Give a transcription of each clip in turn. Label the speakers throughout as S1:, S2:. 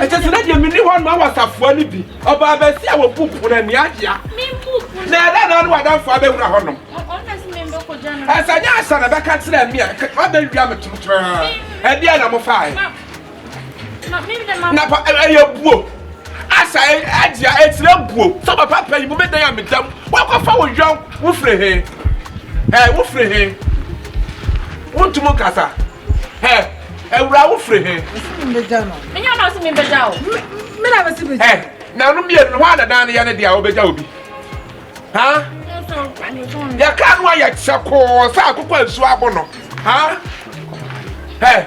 S1: Ɛkyɛ sɛ na deɛ menni hɔ no wɔ safoa no bi ɔbaa bɛsi a wɔbu pono ani agyea na ɛdɛ na ne wadamfo abɛwura hɔ nom ɛsɛ nyɛ asa na bɛka kyerɛ me a wabɛwia me tomtoraa ɛdeɛ na mofaeɛ na pa ɛyɛ buo asa agye a ɛtira buo sɛ papa pɛ yi mo bɛ dan a medam wakɔfa wo yɔn wofiri he ɛ wofiri he wontum nkasa ɛ awura wofiri he menya no so mebɛgya o mena bɛsi bɛgya ɛ na no mmienu no hɔ a dadan no yɛ ne deɛ a wobɛgya obi ha yɛka no a yɛkyɛ kɔɔ sɛ akokɔ nsuo abo no ha ɛ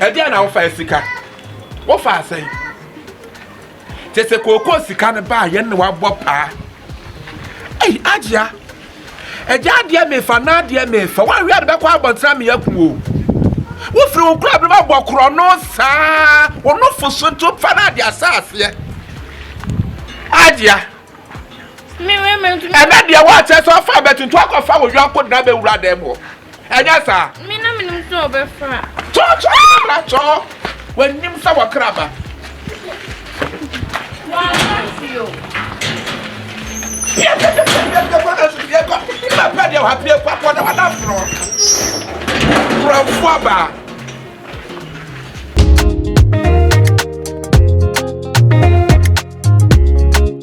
S1: ɛdeɛ na wofa sika wofa asɛn kyɛ sɛ kookoo sika no baa yɛn ne wabɔ paa ei agyea ɛgya adeɛ mefa na adeɛ mefa woawe ade bɛkɔ abɔntena meyɛ ku o wofiri wo kora bɛma bɔ korɔ no saa wo nofo so to fa no ade asaaseɛ agyea ɛnɛ deɛ woakyɛ sɛ ɔfa bɛto nti wakɔfa wo yɔnko dena bɛwura dɛm hɔ ɛnyɛ saa kyɔkyɔkyɔkyɔ w'anim sɛ wɔkra ba papa deɛ wapie kwapɔ na wana borɔ borɔfoɔ baa